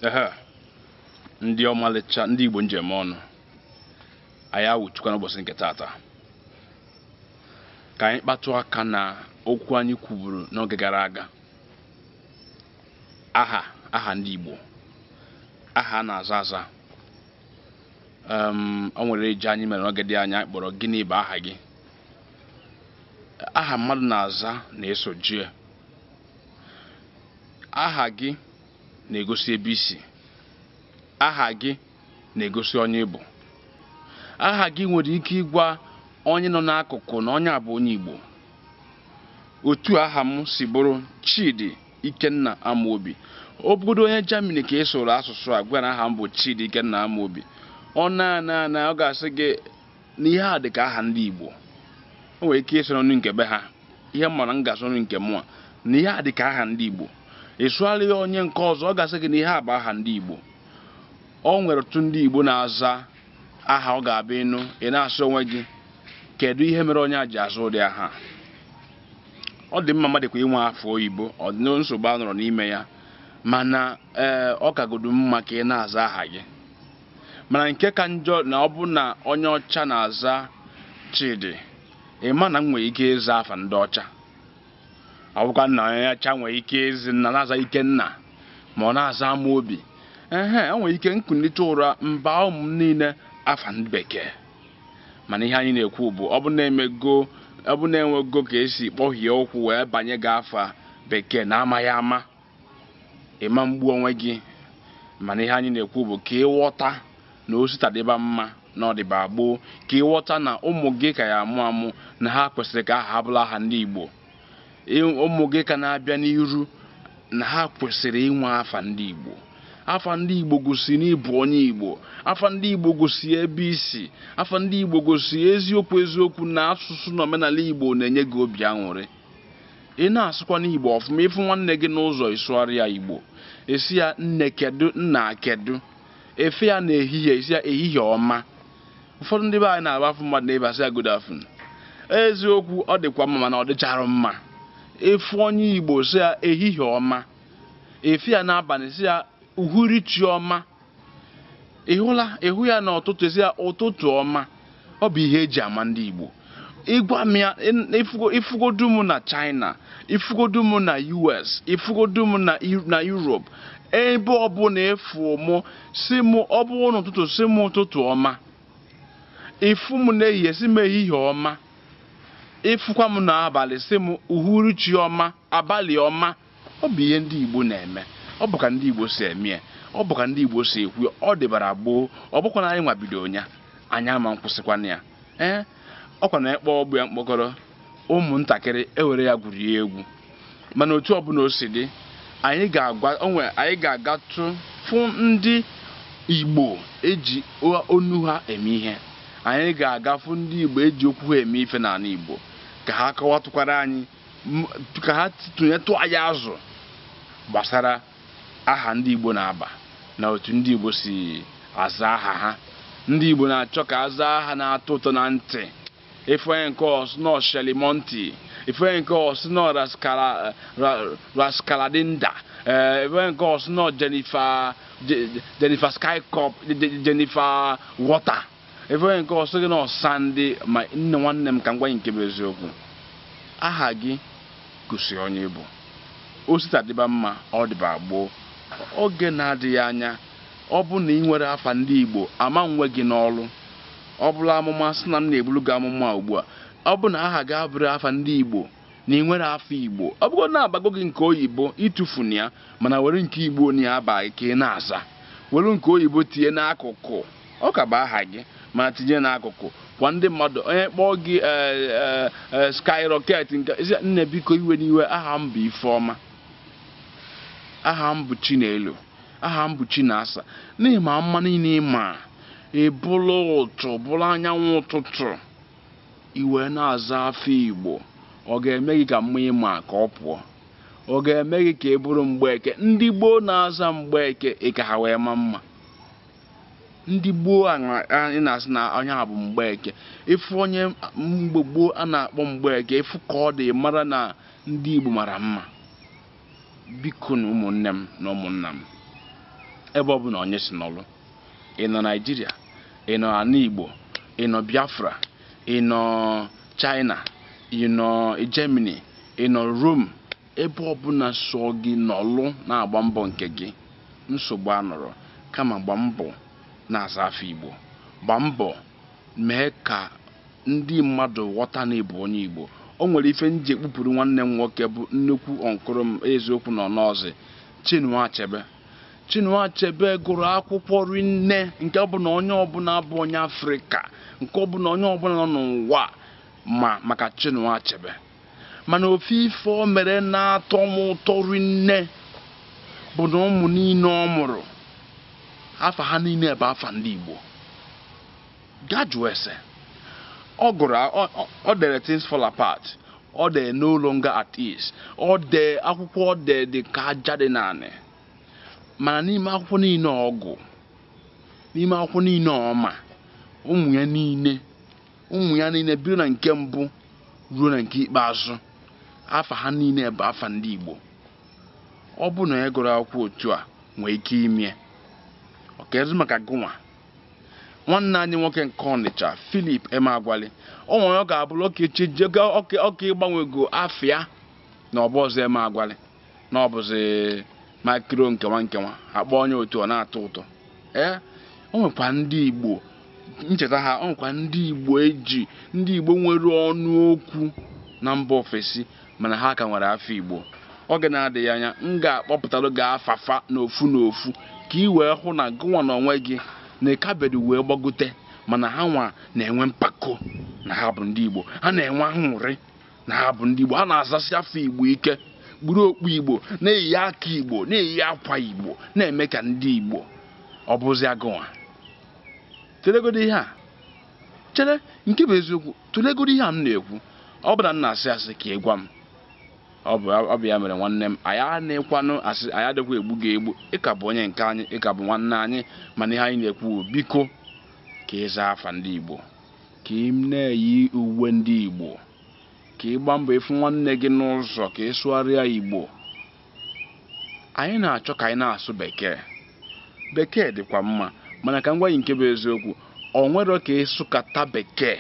ehe ndị ọmalịcha ndị igbo njem ọnụ anyị awụchukwa n'ụbọchị nke tata ka anyị kpatụ aka na okwu anyị kwuburu n'oge gara aga aha aha ndị igbo aha a na-aza aza Em, o nwere eji anyị mere n'oge dị anya anyị kpọrọ gịnị bụ aha gị aha mmadụ na-aza na-esoje ya aha gị na-egosi ebe i si aha gị na-egosi onye ị bụ aha gị nwere ike ịgwa onye nọ n'akụkụ na onye a bụ onye Igbo otu aha m si bụrụ Chidi Ikenna Amobi ọ bụgodu onye Germany ka ị sụrụ asụsụ a gwara aha m bụ Chidi Ikenna Amobi ọ na-ana ana ọ ga-asị gị na ihe a dị ka aha ndị Igbo o nwere ike ịsụ n'onu nke be ha ihe m mara m ga-asụrụ nke mụnwa na ihe a dị ka aha ndị Igbo ị sụgharị ya onye nke ọzọ ọ ga-asị gị na ihe a bụ aha ndị Igbo o nwere otu ndị Igbo na-aza aha ọ ga-abụ ị nụ ị na-asị onwe gị kedu ihe mere onye a ji aza ụdị aha a? ọ dị mma mmadụ kwa inwe afa oyibo ọ dị na nsogbu anọrọ n'ime ya mana ee ọ kagodu mma ka ị na-aza aha gị mana nke ka njọ na ọ bụ na onye ọcha na-aza Chidi ị ma na m nwere ike ịza afa ndị ọcha ọ bụkwa na onye ọcha nwere ike ịza nna na-aza Ikenna ma ọ na-aza Amobi ehe o nwere ike m kunite ụra m baa ụmụ m niile afa ndị bekee mana ihe anyị na-ekwu bụ ọ bụ na e mego ọ bụ na e nwego ka e si kpọhie ụkwụ wee banye gị afa bekee na amaghị ama ị ma egbu onwe gị mana ihe anyị na-ekwu bụ ka ị ghọta na o si taa dịba mma na ọ dịba gboo ka ị ghọta na ụmụ gị ka ya-amụ amụ na ha kwesịrị ka aha ha bụrụ aha ndị Igbo ụmụ gị ka na-abịa n'iru na ha kwesịrị inwe afa ndị Igbo afa ndị igbo gosi na ị bụ onye igbo afa ndị igbo gosi ebe i si afa ndị igbo gosi eziokwu eziokwu na asụsụ na omenala igbo na-enye gị obi aṅụrị ị na-asụkwanụ igbo ọfụma ị fụ nwanne gị n'ụzọ ị sụgharị ya igbo ị sị ya nne kedu nna kedu ị fụ ya na ehihie ị sị ya ehihie ọma ụfọdụ ndị be anyị na-abụ a fụ mmadụ n'ebe a sị ya good afternoon eziokwu ọ dịkwa mma mana ọ dịchara mma ị fụ onye igbo sị ya ehihie ọma ị fụ ya n'abalị sị ya uhuruchi ọma ị hụla ị hụ ya n'ụtụtụ ị sị ya ụtụtụ ọma ọ bụ ihe e ji ama ndị Igbo ị gwa m ya ị fụgodu m na China ị fụgodu m na US ị fụgodu m na Europe ebe ọbụla ị fụ mụ sị m ọ bụrụ n'ụtụtụ sị m ụtụtụ ọma ị fụ m n'ehihie sị m ehihie ọma ị fụkwa m n'abalị sị m uhuruchi ọma abalị ọma ọ bụ ihe ndị Igbo na-eme ọ bụ ka ndị Igbo si eme ya ọ bụ ka ndị Igbo si ekwu ya ọ dịbara gboo ọ bụkwa na anyị nwa bido ya anyị ama nkwụsịkwana ya ee ọkwa na ịkpọ ọgbụ ya mkpọkọrọ ụmụntakịrị ewere ya gwurie egwu mana otu ọbụla o si dị anyị ga-agatụ fụ ndị Igbo eji ọnụ ha eme ihe anyị ga-aga fụ ndị Igbo eji okwu ha eme ife n'anị Igbo ka ha kọwatụkwara anyị ka ha tụnyetụ anyị azụ gbasara aha ndị Igbo na-aba na otu ndị Igbo si aza aha ha ndị Igbo na-achọ ka aza aha na-atọ ụtọ na ntị ị fụ onye nke ọ sị na ọ shelimonti ị fụ onye nke ọ sị na ọ raskaladinda eh, ị fụ onye nke ọ sị na ọ jennifer skycop jennifer water ị fụ onye nke ọ sị gị na ọ sandy ma nne nwanne m ka m gwa gị nke bụ eziokwu aha gị gosi onye ị bụ o si taa dịba mma ọ dịba gboo oge na-adịghị anya ọ bụ na ị nwerọ afa ndị igbo ama nwe gị n'ọlụ ọ bụlụ amụma sị na m na-ebulu gị amụma ugbu a ọ bụ na aha gị abụrọ afa ndị igbo na ị nwerọ afa igbo ọ bụgo na a bago gị nke oyibo ịtụfuna ya mana were nke igbo na ya a ba gị ka ị na-aza were nke oyibo tinye n'akụkụ Ọ ka bụ aha gị mana tinye n'akụkụ gwa ndị mmadụ onye kpọọ gị eh, eh, eh, skyrocket nke sị ya, nne biko iwena iwe aha m bụ ifeọma aha m bụ chinelo aha m bụ chinasa na ị ma mma niile ị ma ị bụrụ ụtụ bụrụ anyanwụ ụtụtụ i wee na-aza afa igbo ọ ga-eme gị ka mma ị ma ka ọ pụọ ọ ga-eme gị ka ị bụrụ mgbeke ndị gboo na-aza mgbeke ị ka ha wee ma mma ndị gboo a na- a- ị na-asị na onye a bụ mgbeke ị fụ onye mgbe gboo a na-akpọ mgbeke ị fụ ka ọ dị mara na ndị igbo mara mma bikonụ ụmụnne m na ụmụnna m ebe ọbụna onye si nọlụ ị nọ naịjiria ị nọ anị igbo ị nọ biafra ị nọ china ị nọ germany ị nọ rome Ebe ọbụla sọọ gị nọlụ na-agba mbọ nke gị, nsogbu anọrọ. Kama gba mbọ na-aza afa Igbo. Gba mbọ mee ka ndị mmadụ ghọta na ị bụ onye Igbo. O nwere ife m ji ekpupuru nwanne m nwoke bụ nnukwu uncle m eziokwu na ọ nọzị, Chinua Achebe. Chinua Achebe gụrụ akwụkwọ rinne nke ọ bụ na onye ọbụla bụ onye Afrịka, nke ọ bụ na onye ọbụla nọ n'ụwa ma maka Chinua Achebe. mana ofu ife o mere na-atọ m ụtọ rinne bụ na ụmụ niile ọ mụrụ afa ha niile bụ afa ndị Igbo gaa jụọ ese ọ gụrụ o dere things fall apart o dee no longer at ease o dee akwụkwọ o dee dị ka aja dị n'anị mana n'ime akwụkwọ niile ọ gụ n'ime akwụkwọ niile ọ ma ụmụ ya niile ụmụ ya niile bido na nke mbụ ruo na nke ikpeazụ afa ha niile bụ afa ndị Igbo ọ bụrụ na ya gụrụ akwụkwọ otu a nwee ike ime ọ kezi maka gụnwa nwanne anyị nwoke nke Ọnịcha Philip Emeagwali o nwere ọ ga-abụrụ ọka echi ọ ka ịgbanwego afa ya na ọ bụrọzi Emeagwali na ọ bụzi makiro nke nwa nke nwa a kpọọ onye otu ọ na-atọ ụtọ ee o nwekwa ndị igbo m cheta ha o nwekwa ndị igbo e ji ndị igbo nwere ọnụ okwu na mba ofesi mana ha ka nwere afa igbo oge na-adịghị anya m ga-akpọpụtara gị afa fa n'ofu n'ofu ka ị wee hụ na gụnwa n'onwe gị na ị ka bido wee gbagote mana ha nwa na-enwe mpako na ha bụ ndị igbo ha na-enwe aṅụrị na ha bụ ndị Igbo ha na-azasi afa Igbo ike kpuru okpu Igbo na-eyi aka Igbo na-eyi akwa Igbo na-eme ka ndị Igbo ọ bụzia gụnwa tụlegodo ihe a chere nke bụ eziokwu tụlegodo ihe a m na-ekwu ọ bụrụ na m na-asị asị ka ị gwa m ọ bụ ya mere nwanne m anyị anekwanụ asị anyị adịkwa egbu gị egbu ị ka bụ onye nke anyị ị ka bụ nwanne anyị mana ihe anyị na-ekwu biko ka ị zaa afa ndị Igbo ka ị na-eyi uwe ndị Igbo ka ị gbaa mbọ ị fụ nwanne gị n'ụzọ ka ị sụgharịa Igbo anyị na-achọ ka anyị na-asụ bekee bekee dịkwa mma mana ka m gwa gị nke bụ eziokwu o nwere ka ị sụkata bekee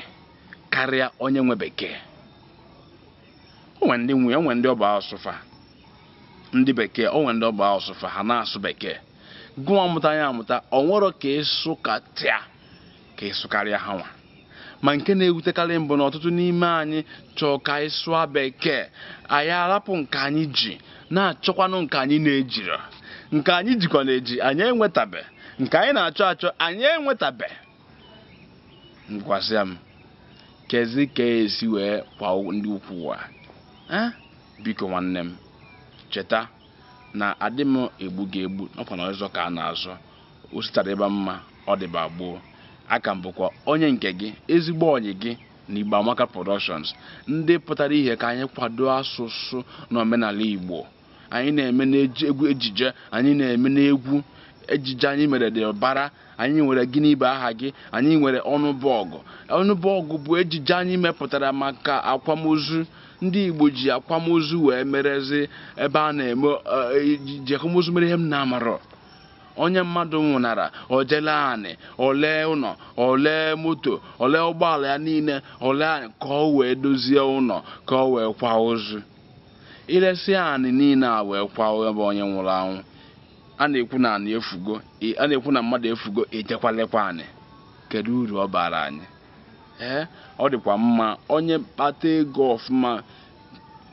karịa onye nwe bekee o nwe ndị nwe o nwe ndị ọ bụ asụsụ fa ndị bekee o nwe ndị ọ bụ asụsụ fa ha na-asụ bekee gụwa mụta ya amụta o nwere ka ị sụkata ka ị sụkarịa ha nwa ma nke na-ewutekarị m bụ na ọtụtụ n'ime anyị chọọ ka anyị sụọ bekee anyị arapụ nke anyị ji na-achọkwanụ nke anyị na-ejiro nke anyị jikwa na-eji anyị enwetabe nke anyị na-achọ achọ anyị enwetabe ngwazia m kezi ka e si wee kwa ndị ukwu ụwa biko nwanne m cheta na adị m egbu gị egbu na ọ kwa nzọ ka a na-azọ osita dịba mma ọ dịba gboo a ka m bụkwa onye nke gị ezigbo ọyị gị na Igbo Amaka Productions ndị pụtara ihe ka anyị kwado asụsụ na omenala Igbo anyị na-eme n'ejije anyị na-eme n'egwu ejije anyị mere dị ụbara anyị nwere gịnị bụ aha gị anyị nwere ọnụbọgụ ọnụbọgụ bụ ejije anyị mepụtara maka akwamozu ndị Igbo ji akwamozu wee merezi ebe a na-eme e, e, ji akwamozu mere ihe m na-amarọ onye mmadụ nwụnara o je lee anị o lee ụnọ o lee moto o lee ụgbọala ya niile o lee anị ka o wee dozie ụnọ ka o wee kwa ozu e lesịa anị niile e wee kwaba onye nwụrụ anwụ a na-ekwu na anị efugo a na-ekwu na mmadụ efugo e jekwa lekwa anị kedu uru ọ bara anyị ee ọ dịkwa mma onye kpata ego ọfụma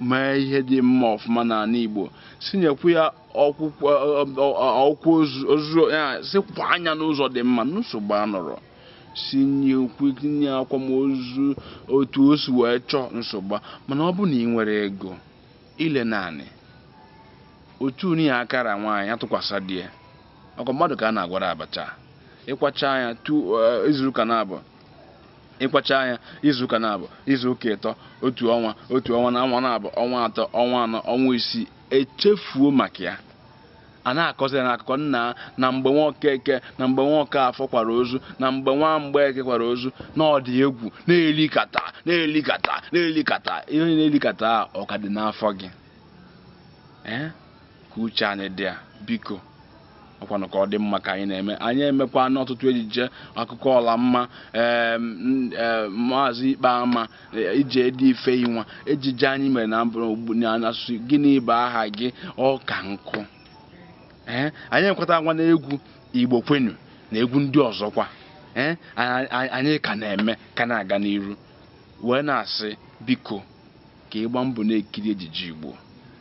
mee ihe dị mma ọfụma n'anị Igbo sinyekwu ya ọkwụ ozu ya sikwa anya n'ụzọ dị mma nsogbu anọrọ si nye ukwu nye akwamozu otu o si wee chọọ nsogbu mana ọ bụ na ị nwerọ ego i lee naanị otu anị ya akara nwaanyị atụkwasị di ya ọkwa mmadụ ka a na-agwara abacha ị kwachaa ya eh, izuụka naabọ ị kwachaa ya izuụka naabọ izuụka ịtọ otu ọnwa otu ọnwa naabọ ọnwa atọ ọnwa anọ ọnwa isii echefuo maka ya a na-akọzi ya n'akụkọ nna na mgbe nwa Okeke na mgbe nwa Okafọ kwara ozu na mgbe nwa Mgbeke kwara ozu na ọ dị egwu na-elikata na-elikata na-elikata ihe ị na-elikata a ọ ka dị n'afọ gị ee ka uche anyị dị ya biko ọkwanụ ka ọ dị mma ka anyị na-eme anyị emekwana ọtụtụ ejije akụkọ Ọlamma em, n- eh, maazị Ikpeama eh, ije dị ife inwa ejije anyị mere na mbụ ugbu- na asụsụ gịnị bụ aha gị ọka nkụ ee anyị ekwetakwana egwu Igbo kwenu na egwu ndị ọzọkwa ee anyị anyị ka na-eme ka na-aga n'iru wee na-asị biko ka ị gbaa mbọ na-ekiri ejije Igbo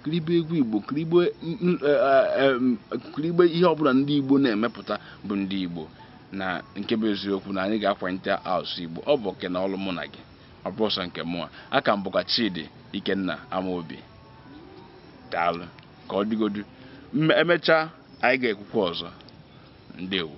kiribe egwu Igbo kiribe e, e, ihe ọbụla ndị Igbo na-emepụta bụ ndị Igbo na nke bụ eziokwu na anyị ga-akwanite asụsụ Igbo ọ bụ oke na ọlụ mụ na gị ọ bụrọ sọ nke mụa a ka m bụkwa Chidi Ikenna Amaobi daalụ ka ọ dịgodu emechaa anyị ga-ekwukwa ọzọ ndewo